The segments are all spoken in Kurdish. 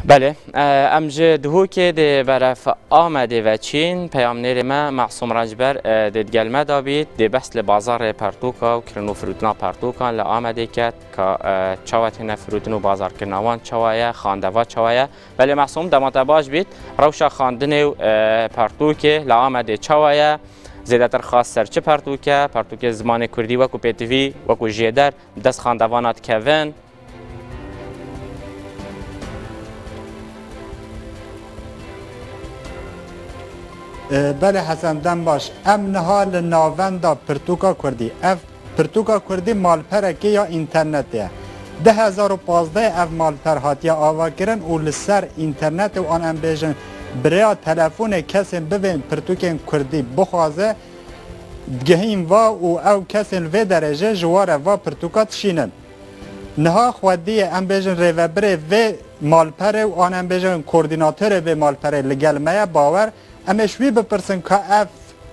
Belê, em ji Duhokê dê beref Amedê veçîn. Peyamnêrê me Masûm Rençber dê digel me de bît. Dê behs li bazarê pertûka û kirin û firûtina pertûkan li Amedê ket ka çawa têne firûtin û bazarkirina wan çawa ye, xandeva çawa ye. Belê Masûm, dema te baş bît, rewşa xandinê û pertûkê li Amedê çawa ye? Zêdetir xas ser çi pertûk e? Pertûkê zimanê kurdî wekû pêtivî, wekû jêder bi dest xandevana dikevin? Belê Hesen dem baş. Em niha li navenda Pirtûka Kurdî. Ev Pirtûka Kurdî malperekê ya înternetê ye. Di hezar û pazdehê ev malper hatiye avakirin û li ser înternetê û an em bêjin bi rêya telefonê kesên bivên pirtûkên Kurdî bixwaze, digihîn va û ew kesên li vê derê jê ji ware va pirtûka dişînin. Niha xwediyê em bêjin rêvebirê vê malperê û an em bêjin kordînatorê vê malperê li gel me ye bawer em ê ji wî bipirsin ka ev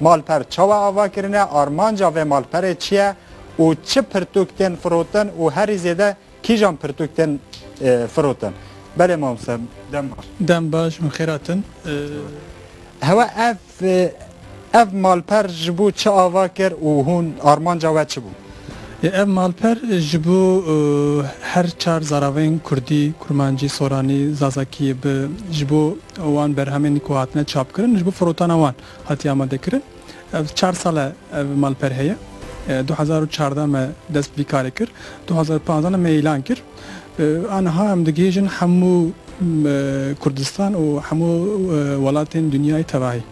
malper çawa ava kirine, armanca vê malperê çi ye û çi pirtûk tên firotin û herî zêde kîjan pirtûk tên firotin. Belê mamoste dem baş. Dem baş û xêrat in. Hewa ev Ev malper ji bo çi ava kir û hûn armanca we çi bû? Ev malper ji bo her çar zaravên kurdî, kurmancî, soranî, zazakî bi ji bo wan berhemên ku hatine çapkirin ji bo firotana wan hatiye amadekirin. Ev çar sal e ev malper heye. Du hezar û çardeh me dest bi vî karê kir. Du hezar û panzdeh de me îlan kir. Aniha em digihêjin hemû Kurdistan û hemû welatên dinyayê tevahî.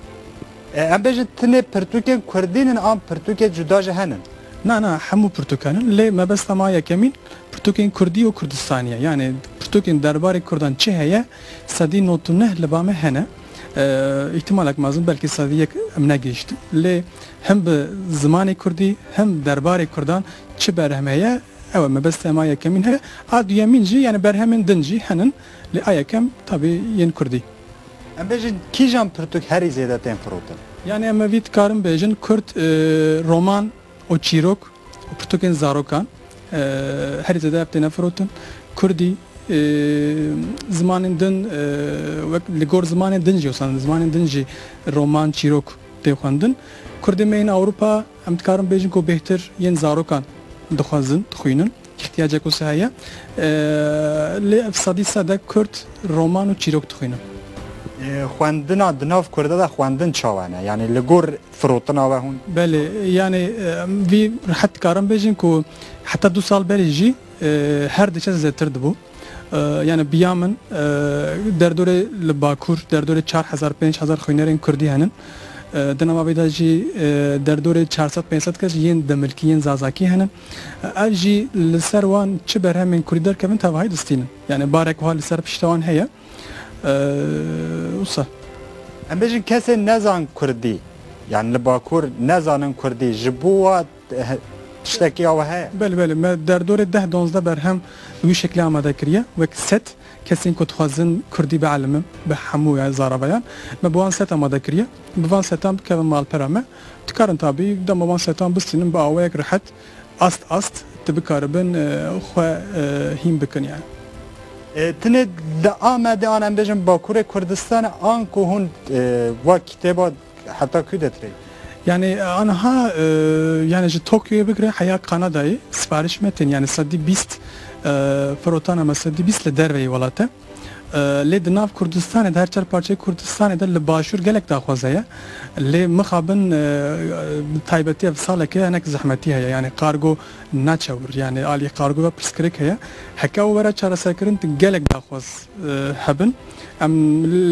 Em bêjin tenê pirtûkên kurdî nin an pirtûkên cuda jî henin? Na, na, hemû pirtûkan in. Lê mebesta ma yekemîn pirtûkên kurdî û kurdistanî ye. Yanê pirtûkên derbarê kurdan çi heye sedî nod û neh li ba me hene. Îhtîmalek mezin belkî sedî yek em negihîştin. Lê him bi zimanê kurdî him derbarê kurdan çi berhem heye Ew e mebeste ma yekemîn heye. A duyemîn jî yanî berhemên din jî henin lê a yekem tabî yên kurdî. Em bêjin kîjan pirtûk herî zêde tên firotin? Yanî em evî dikarin bêjin kurd roman û çîrok û pirtûkên zarokan herî zêde ev têne firotin. Kurdî, zimanên din wek li gor zimanên din jî wisa zimanên din jî roman, çîrok tê xwendin. Kurdên me yên Ewropa Em dikarin bêjin ku bêhtir yên zarokan dixwezin, dixwînin, îhtiyacek wisa heye. Lê ev sedî sed e kurd roman û çîrok dixwînin. Xwendina di nav kurde de xwendin çawa ne? Yanî li gor firotina we hûn? Belê, yanî em vî rehet dikarin bêjin ku heta du sal berî jî her diçe zêdetir dibû. Yani biya min derdorê li Bakur derdorê çar hezar pênc hezar xwînerên Kurdî henin. Di nava vê de jî derdorê çar sed pênc sed kes yên demilkî yên zazakî henin. Ev jî li ser wan çi berhemên Kurdî derkevin tevahî distînin. Yani barek wiha li ser pişta wan heye. Wisa. Em bêjin kesên nezan Kurdî, yani li Bakur nezanin Kurdî ji bo we Tiştekî ya we heye? Belê belê me derdorê deh donzdeh berhem bi wî şeklê amade kiriye wek set kesên ku dixwazin kurdî bielîmin bi hemû zaravayan me bi wan set amade kiriye bi van setan bikevin malpera me dikarin tabî dema wan setan bistînin bi awayek rihet ast ast di bikaribin xwe hîn bikin yani. Tinê di Amedê an em bêjin Bakurê Kurdistanê an ku hûn va kitêba Heta ku detirê? Yanî aniha yanî ji Tokyoyê bigire heya Kanadayê siparîş me tên yanî sedî bîst firotana me sedî bîst li derve yê welat e. Lê di nav Kurdistanê di her çar parçeyê Kurdistanê de li başûr gelek daxwaza ye. Lê mixabin bi taybetî ev saleke hinek zehmetî heye yanî kargo naçe wir yanî alî kargo ve pirsgirêk heye. Heke ew were çareserkirin di gelek daxwaz hebin. Em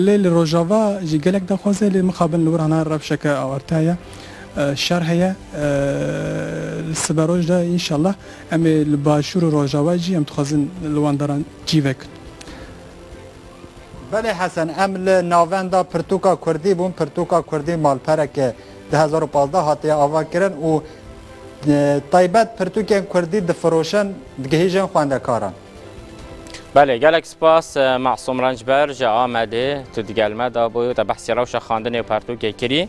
lê li Rojava jî gelek daxwaz e lê mixabin li wir hana rewşeke awarte heye, şer heye. Li siberoj de înşallah em ê li Başûr û Rojava jî em dixwazin li wan daran cî vekin. Belê Hesen, em li navenda pirtûka kurdî bûn. Pirtûka kurdî malpereke di hezar û pazdeh hatiye avakirin û taybet pirtûkên kurdî difiroşin, digihîjin xwendekaran. Belê gelek spas Masum Rencber ji Amedê tu digel me dabû te behsî rewşa xandinê û pertûkê kirî.